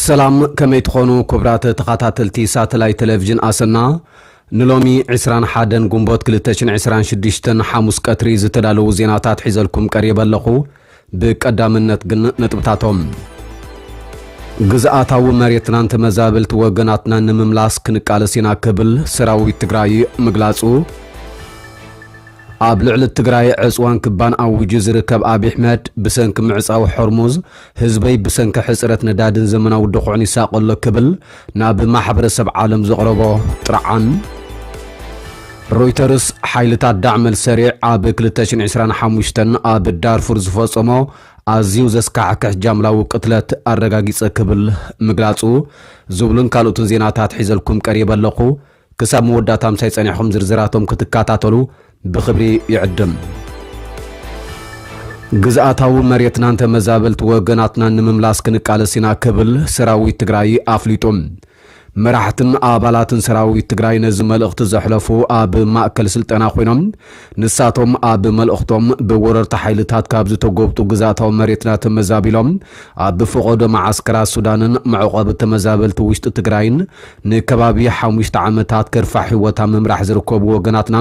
ሰላም ከመይ ትኾኑ ክብራት ተኸታተልቲ ሳተላይት ቴሌቭዥን ኣሰና ንሎሚ 21 ግንቦት 226 ሓሙስ ቀትሪ ዝተዳለዉ ዜናታት ሒዘልኩም ቀሪበ ኣለኹ ብቀዳምነት ግን ነጥብታቶም ግዝኣታዊ መሬትናን ተመዛበልቲ ወገናትናን ንምምላስ ክንቃለስ ኢና ክብል ሰራዊት ትግራይ ምግላጹ፣ ኣብ ልዕሊ ትግራይ ዕጽዋን ክባን ኣዊጁ ዝርከብ ኣብይ ኣሕመድ ብሰንኪ ምዕጻው ሖርሙዝ ህዝበይ ብሰንኪ ሕጽረት ነዳድን ዘመናዊ ድኹዕን ይሳቐ ኣሎ ክብል ናብ ማሕበረሰብ ዓለም ዘቕረቦ ጥርዓን ሮይተርስ ሓይልታት ዳዕመ ኣልሰሪዕ ኣብ ክልተ ሽሕን ዕስራን ሓሙሽተን ኣብ ዳርፉር ዝፈጸሞ ኣዝዩ ዘስካሕክሕ ጃምላዊ ቅትለት ኣረጋጊጸ ክብል ምግላጹ ዝብሉን ካልኦትን ዜናታት ሒዘልኩም ቀሪበ ኣለኹ። ክሳብ መወዳእታ ምሳይ ጸኒሕኹም ዝርዝራቶም ክትከታተሉ ብኽብሪ ይዕድም። ግዝኣታዊ መሬትናን ተመዛበልቲ ወገናትናን ንምምላስ ክንቃለስ ኢና ክብል ሰራዊት ትግራይ ኣፍሊጡ። መራሕትን ኣባላትን ሰራዊት ትግራይ ነዚ መልእኽቲ ዘሕለፉ ኣብ ማእከል ስልጠና ኮይኖም ንሳቶም ኣብ መልእኽቶም ብወረርቲ ሓይልታት ካብ ዝተጎብጡ ግዝኣታዊ መሬትና ተመዛቢሎም ኣብ ፈቐዶ መዓስከራት ሱዳንን መዕቖቢ ተመዛበልቲ ውሽጢ ትግራይን ንከባቢ ሓሙሽተ ዓመታት ከርፋሕ ህይወት ኣብ ምምራሕ ዝርከቡ ወገናትና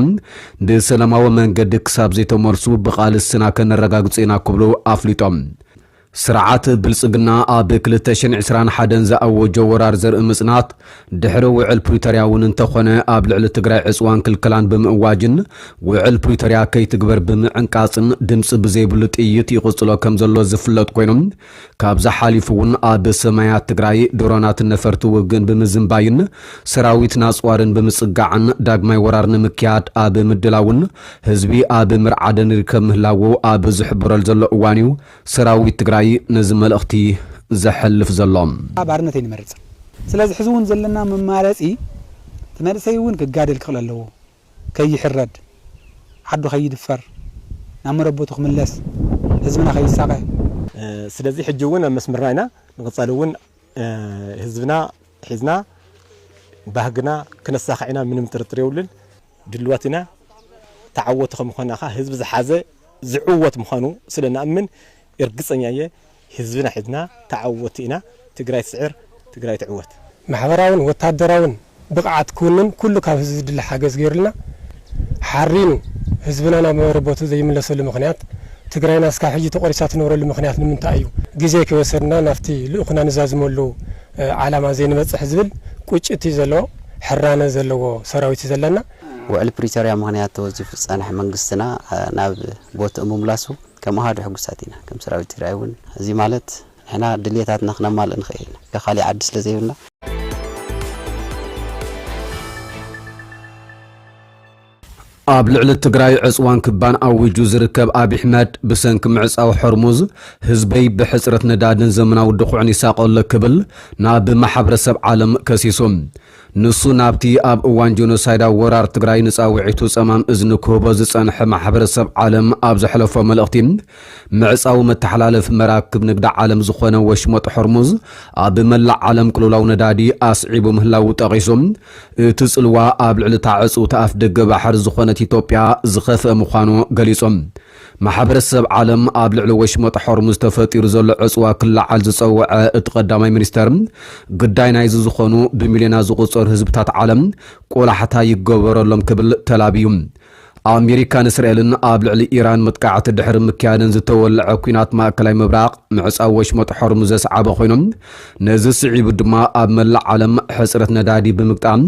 ብሰላማዊ መንገዲ ክሳብ ዘይተመልሱ ብቓልስና ከነረጋግፅ ኢና ክብሉ ኣፍሊጦም። ስርዓት ብልፅግና ኣብ ክልተ ሽሕን ዕስራን ሓደን ዝኣወጆ ወራር ዘርኢ ምፅናት ድሕሪ ውዕል ፕሪቶርያ እውን እንተኾነ ኣብ ልዕሊ ትግራይ ዕፅዋን ክልከላን ብምእዋጅን ውዕል ፕሪቶርያ ከይትግበር ብምዕንቃፅን ድምፂ ብዘይብሉ ጥይት ይቕፅሎ ከምዘሎ ዝፍለጥ ኮይኑ ካብዚ ሓሊፉ እውን ኣብ ሰማያት ትግራይ ድሮናትን ነፈርቲ ውግእን ብምዝንባይን ሰራዊት ናፅዋርን ብምፅጋዕን ዳግማይ ወራር ንምክያድ ኣብ ምድላውን ህዝቢ ኣብ ምርዓድን ይርከብ ምህላዉ ኣብ ዝሕበረሉ ዘሎ እዋን እዩ ሰራዊት ትግራይ ነዚ መልእኽቲ ዘሕልፍ ዘሎ። ባርነት ኣይንመርፅን ስለዚ ሕዚ እውን ዘለና መማረፂ እቲ መንእሰይ እውን ክጋደል ክኽእል ኣለዎ። ከይሕረድ፣ ዓዱ ከይድፈር፣ ናብ መረበቱ ክምለስ፣ ህዝብና ከይሳቐ፣ ስለዚ ሕጂ እውን ኣብ መስመርና ኢና ንቕፀል እውን ህዝብና ሒዝና ባህግና ክነሳኽዕ ኢና ምንም ጥርጥር የብሉን ድሉዋት ኢና ተዓወቲ ከምዃንና ከኣ ህዝቢ ዝሓዘ ዝዕወት ምዃኑ ስለንኣምን እርግፀኛ እየ ህዝብና ሒዝና ተዓወቲ ኢና ትግራይ ትስዕር ትግራይ ትዕወት። ማሕበራውን ወታደራውን ብቕዓት ክውንን ኩሉ ካብ ህዝቢ ዝድለ ሓገዝ ገይሩልና ሓሪኑ ህዝብና ናብ መረበቱ ዘይምለሰሉ ምኽንያት ትግራይና እስካብ ሕጂ ተቖሪሳ ትነብረሉ ምኽንያት ንምንታይ እዩ? ግዜ ከይወሰድና ናብቲ ልእኹና ንዛዝመሉ ዓላማ ዘይንበፅሕ ዝብል ቁጭት እዩ ዘለዎ። ሕራነ ዘለዎ ሰራዊት እዩ ዘለና። ውዕል ፕሪቶርያ ምኽንያት ተወዚፉ ዝፀንሐ መንግስትና ናብ ቦትኡ ምምላሱ ከም ኣሃዱ ሕጉሳት ኢና ከም ሰራዊት ትግራይ እውን እዚ ማለት ንሕና ድልየታትና ክነማልእ ንኽእል ኢና ከ ካሊእ ዓዲ ስለ ዘይብልና። ኣብ ልዕሊ ትግራይ ዕፅዋን ክባን ኣዊጁ ዝርከብ ኣቢሕመድ ብሰንኪ ምዕፃው ሖርሙዝ ህዝበይ ብሕፅረት ነዳድን ዘመናዊ ድኹዕን ይሳቐሎ ክብል ናብ ማሕበረሰብ ዓለም ከሲሱ። ንሱ ናብቲ ኣብ እዋን ጆኖሳይዳዊ ወራር ትግራይ ንጻውዒቱ ጸማም እዝኒ ክህቦ ዝጸንሐ ማሕበረሰብ ዓለም ኣብ ዘሕለፎ መልእኽቲ፣ ምዕጻው መተሓላለፊ መራክብ ንግዲ ዓለም ዝኾነ ወሽመጥ ሆርሙዝ ኣብ መላእ ዓለም ቅልውላው ነዳዲ ኣስዒቡ ምህላዉ ጠቒሱ፣ እቲ ጽልዋ ኣብ ልዕሊ እታ ዕጽውቲ ኣፍደገ ባሕሪ ዝኾነት ኢትዮጵያ ዝኸፍአ ምዃኑ ገሊጹ። ማሕበረሰብ ዓለም ኣብ ልዕሊ ወሽመጥ ሖርሙዝ ተፈጢሩ ዘሎ ዕጽዋ ክለዓል ዝጸወዐ እቲ ቀዳማይ ሚኒስተር፣ ግዳይ ናይዚ ዝኾኑ ብሚልዮናት ዝቑጸሩ ህዝብታት ዓለም ቆላሕታ ይገበረሎም ክብል ተላብዩ። ኣሜሪካን እስራኤልን ኣብ ልዕሊ ኢራን መጥቃዕቲ ድሕሪ ምክያደን ዝተወለዐ ኲናት ማእከላይ ምብራቕ ምዕጻው ወሽመጥ ሖርሙዝ ዘስዓበ ኮይኑ፣ ነዚ ስዒቡ ድማ ኣብ መላእ ዓለም ሕጽረት ነዳዲ ብምግጣም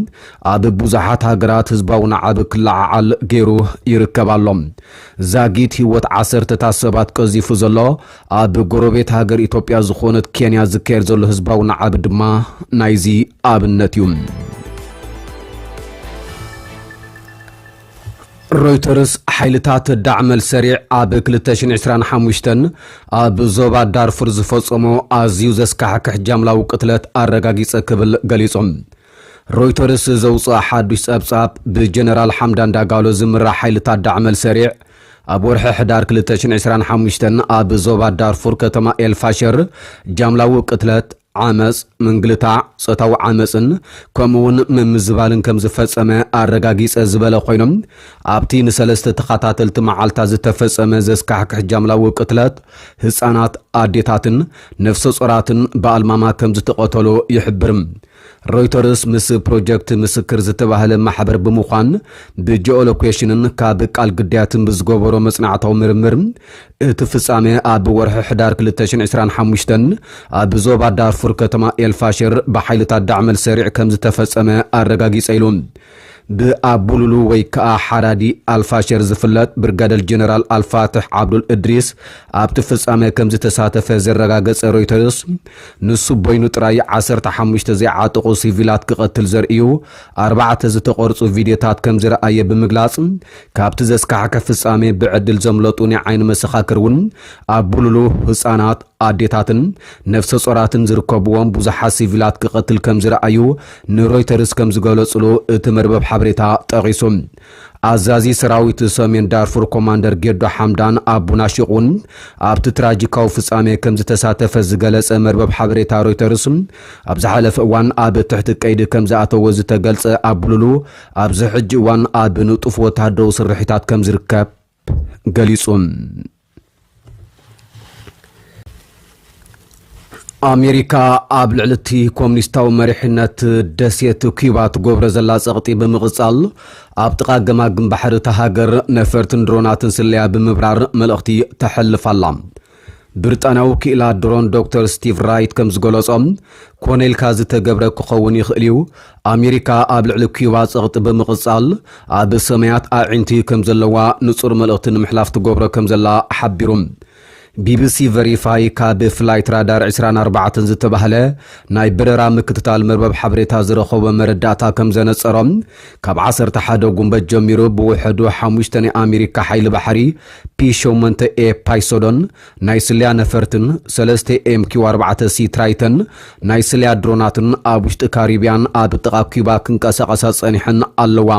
ኣብ ቡዙሓት ሃገራት ህዝባዊ ናዕብ ክለዓዓል ገይሩ ይርከብ ኣሎ። ዛጊት ህይወት ዓሰርተታት ሰባት ቀዚፉ ዘሎ ኣብ ጎረቤት ሃገር ኢትዮጵያ ዝኾነት ኬንያ ዝካየድ ዘሎ ህዝባዊ ናዕብ ድማ ናይዚ ኣብነት እዩ። ሮይተርስ ሓይልታት ዳዕመል ሰሪዕ ኣብ 2025 ኣብ ዞባ ዳርፉር ዝፈጸሞ ኣዝዩ ዘስካሕክሕ ጃምላዊ ቅትለት ኣረጋጊጸ ክብል ገሊጹ። ሮይተርስ ዘውጽኣ ሓዱሽ ጸብጻብ፣ ብጀነራል ሓምዳን ዳጋሎ ዝምራሕ ሓይልታት ዳዕመል ሰሪዕ፣ ኣብ ወርሒ ሕዳር ክልተ ሽሕን ዕስራን ሓሙሽተን ኣብ ዞባ ዳርፉር ከተማ ኤል ፋሸር ጃምላዊ ቅትለት፣ ዓመጽ፣ ምንግልታዕ፣ ጾታዊ ዓመጽን ከምኡ'ውን ምምዝባልን ከም ዝፈጸመ ኣረጋጊጸ ዝበለ ኮይኑ፣ ኣብቲ ንሰለስተ ተኸታተልቲ መዓልታት ዝተፈጸመ ዘስካሕክሕ ጃምላዊ ቅትለት፣ ህጻናት፣ ኣዴታትን ነፍሰጾራትን ብኣልማማ ከም ዝተቐተሉ ይሕብር። ሮይተርስ ምስ ፕሮጀክት ምስክር ዝተባህለ ማሕበር ብምዃን ብጂኦሎኬሽንን ካብ ቃል ግዳያትን ብዝገበሮ መጽናዕታዊ ምርምር እቲ ፍጻመ ኣብ ወርሒ ሕዳር ክልተ ሽሕን ዕስራን ሓሙሽተን ኣብ ዞባ ዳርፉር ከተማ ኤልፋሽር ብሓይልታት ዳዕመል ሰሪዕ ከምዝተፈጸመ ኣረጋጊጸ ኢሉ። ብኣቡሉሉ ወይ ከኣ ሓራዲ ኣልፋሸር ዝፍለጥ ብርጋደል ጀነራል ኣልፋትሕ ዓብዱል እድሪስ ኣብቲ ፍጻመ ከምዝተሳተፈ ዘረጋገጸ ሮይተርስ፣ ንሱ በይኑ ጥራይ ዓሰርተ ሓሙሽተ ዘይዓጠቑ ሲቪላት ክቐትል ዘርእዩ ኣርባዕተ ዝተቐርጹ ቪድዮታት ከምዝረኣየ ብምግላጽ፣ ካብቲ ዘስካሕክሕ ፍጻመ ብዕድል ዘምለጡ ናይ ዓይኒ መሰኻክር እውን ኣቡሉሉ ህጻናት፣ ኣዴታትን ነፍሰጾራትን ዝርከብዎም ብዙሓት ሲቪላት ክቐትል ከምዝረኣዩ ንሮይተርስ ከም ዝገለጹሉ እቲ መርበብ ሓበሬታ ጠቒሱ። ኣዛዚ ሰራዊት ሰሜን ዳርፉር ኮማንደር ጌዶ ሓምዳን ኣቡ ናሺቕ እውን ኣብቲ ትራጂካዊ ፍጻሜ ከም ዝተሳተፈ ዝገለጸ መርበብ ሓበሬታ ሮይተርስ፣ ኣብ ዝሓለፈ እዋን ኣብ ትሕቲ ቀይዲ ከም ዝኣተወ ዝተገልጸ ኣቡሉሉ፣ ኣብዚ ሕጂ እዋን ኣብ ንጡፍ ወተሃደራዊ ስርሒታት ከም ዝርከብ፣ ገሊጹ። ኣሜሪካ ኣብ ልዕሊ እቲ ኮሚኒስታዊ መሪሕነት ደሴት ኩባ ትገብሮ ዘላ ጸቕጢ ብምቕጻል ኣብ ጥቓ ገማግም ባሕሪ እታ ሃገር ነፈርትን ድሮናትን ስለያ ብምብራር መልእኽቲ ተሕልፍ ኣላ። ብሪጣንያዊ ክኢላ ድሮን ዶክተር ስቲቭ ራይት ከም ዝገለጾ፣ ኮነ ኢልካ ዝተገብረ ክኸውን ይኽእል እዩ፣ ኣሜሪካ ኣብ ልዕሊ ኲባ ጸቕጢ ብምቕጻል ኣብ ሰማያት ኣዒንቲ ከም ዘለዋ ንጹር መልእኽቲ ንምሕላፍ ትገብሮ ከም ዘላ ሓቢሩ። ቢቢሲ ቨሪፋይ ካብ ፍላይት ራዳር ዕስራን ኣርባዕተን ዝተባህለ ናይ በረራ ምክትታል መርበብ ሓበሬታ ዝረኸቦ መረዳእታ ከም ዘነጸሮ፣ ካብ ዓሰርተ ሓደ ጉንበት ጀሚሩ ብውሕዱ ሓሙሽተ ናይ ኣሜሪካ ሓይሊ ባሕሪ፣ ፒ ሸሞንተ ኤ ፓይሶዶን ናይ ስለያ ነፈርትን ሰለስተ ኤም ኪው ኣርባዕተ ሲ ትራይተን ናይ ስለያ ድሮናትን ኣብ ውሽጢ ካሪብያን ኣብ ጥቓ ኲባ ክንቀሳቐሳ ጸኒሐን ኣለዋ።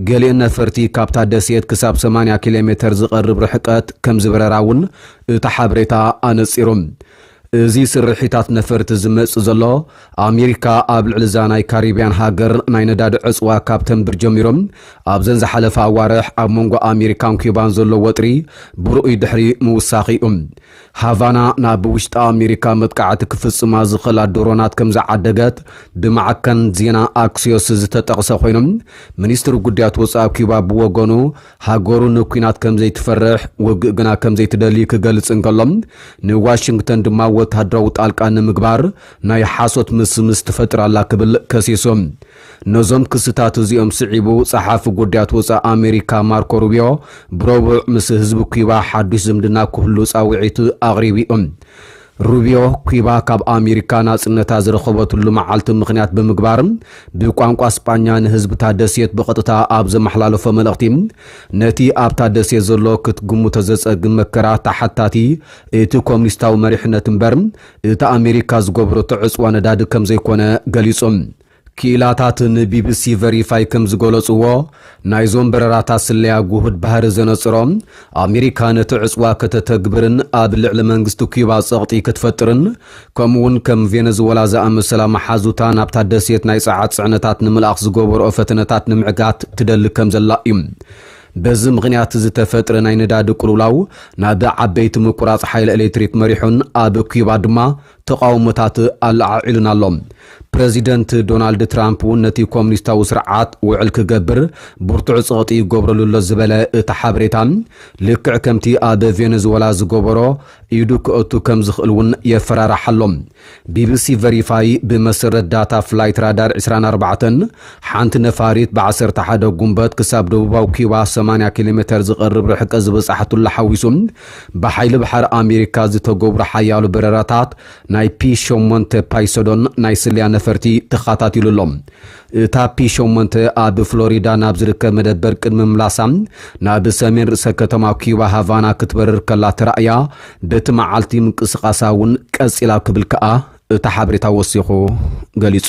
ገሊእን ነፈርቲ ካብታ ደሴት ክሳብ ሰማንያ ኪሎሜተር ዝቐርብ ርሕቀት ከምዝበረራ'ውን እቲ ሓበሬታ ኣነጺሩ። እዚ ስርሒታት ነፈርቲ ዝመጽእ ዘሎ፣ ኣሜሪካ ኣብ ልዕሊ እዛ ናይ ካሪብያን ሃገር ናይ ነዳዲ ዕጽዋ ካብ ተንብር ጀሚሩ፣ ኣብዘን ዝሓለፋ ኣዋርሕ ኣብ መንጎ ኣሜሪካን ኲባን ዘሎ ወጥሪ ብርኡይ ድሕሪ ምውሳኹ'ዩ። ሃቫና ናብ ውሽጢ ኣሜሪካ መጥቃዕቲ ክፍጽማ ዝኽእላ ድሮናት ከምዝዓደገት ብማዕከን ዜና ኣክሲዮስ ዝተጠቕሰ ኮይኑ፣ ሚኒስትሪ ጉዳያት ወጻኢ ኲባ ብወገኑ፣ ሃገሩ ንኲናት ከም ዘይትፈርሕ፣ ውግእ ግና ከም ዘይትደሊ ክገልጽ እንከሎ፣ ንዋሽንግተን ድማ ወተሃደራዊ ጣልቃ ንምግባር ናይ ሓሶት ምስምስ ትፈጥር ኣላ ክብል ከሲሱ። ነዞም ክስታት እዚኦም ስዒቡ ጸሓፊ ጉዳያት ወጻኢ ኣሜሪካ ማርኮ ሩቢዮ ብረቡዕ ምስ ህዝቢ ኲባ ሓድሽ ዝምድና ክህሉ ጻውዒት ኣቕሪቡ'ዩ። ሩቢዮ፣ ኩባ ካብ ኣሚሪካ ናጽነታ ዝረኸበትሉ መዓልቲ ምኽንያት ብምግባር ብቋንቋ ስጳኛ ንህዝቢ'ታ ደሴት ብቐጥታ ኣብ ዘመሓላለፎ መልእኽቲ፣ ነቲ ኣብታ ደሴት ዘሎ ክትግምቶ ዘጸግም መከራ ተሓታቲ እቲ ኮሚኒስታዊ መሪሕነት እምበር እቲ ኣሚሪካ ዝገበረቶ ዕጽዋ ነዳዲ ከምዘይኮነ ገሊጹ። ክኢላታት ንቢቢሲ ቨሪፋይ ከም ዝገለጽዎ፣ ናይዞም በረራታት ስለያ ግሁድ ባህሪ ዘነጽሮ፣ ኣሜሪካ ነቲ ዕጽዋ ከተተግብርን ኣብ ልዕሊ መንግስቲ ኲባ ጸቕጢ ክትፈጥርን፣ ከምኡ'ውን ከም ቬነዝወላ ዝኣመሰላ መሓዙታ ናብታ ደሴት ናይ ጸዓት ጽዕነታት ንምልኣኽ ዝገበርኦ ፈተነታት ንምዕጋት ትደሊ ከም ዘላ እዩ። በዚ ምኽንያት ዝተፈጥረ ናይ ነዳዲ ቅልውላው ናብ ዓበይቲ ምቁራጽ ሓይሊ ኤሌክትሪክ መሪሑን ኣብ ኲባ ድማ ተቓውሞታት ኣለዓዒሉን ኣሎ። ፕረዚደንት ዶናልድ ትራምፕ'ውን ነቲ ኮሚኒስታዊ ስርዓት ውዕል ክገብር ብርቱዕ ጸቕጢ ይገብረሉ ኣሎ ዝበለ እቲ ሓበሬታ፣ ልክዕ ከምቲ ኣብ ቬነዝወላ ዝገበሮ ኢዱ ከእቱ ከም ዝኽእል'ውን የፈራርሕ ኣሎ። ቢቢሲ ቨሪፋይ ብመሰረት ዳታ ፍላይት ራዳር ዕስራን ኣርባዕተን፣ ሓንቲ ነፋሪት ብ ዓሰርተ ሓደ ጉንበት ክሳብ ደቡባዊ ኪዩባ ሰማንያ ኪሎሜተር ዝቐርብ ርሕቀት ዝበጻሕትሉ ሓዊሱ፣ ብሓይሊ ባሕሪ ኣሜሪካ ዝተገብሩ ሓያሎ በረራታት ናይ ፒ ሸሞንተ ፓይሰዶን ናይ ስለያ ነፈርቲ ተኻታቲሉ ኣሎ። እታ ፒ ሸሞንተ ኣብ ፍሎሪዳ ናብ ዝርከብ መደበር ቅድሚ ምምላሳ ናብ ሰሜን ርእሰ ከተማ ኪዩባ ሃቫና ክትበርር ከላ ተራእያ፣ በቲ መዓልቲ ምንቅስቓሳ እውን ቀጺላ ክብል ከኣ እቲ ሓበሬታ ወሲኹ ገሊጹ።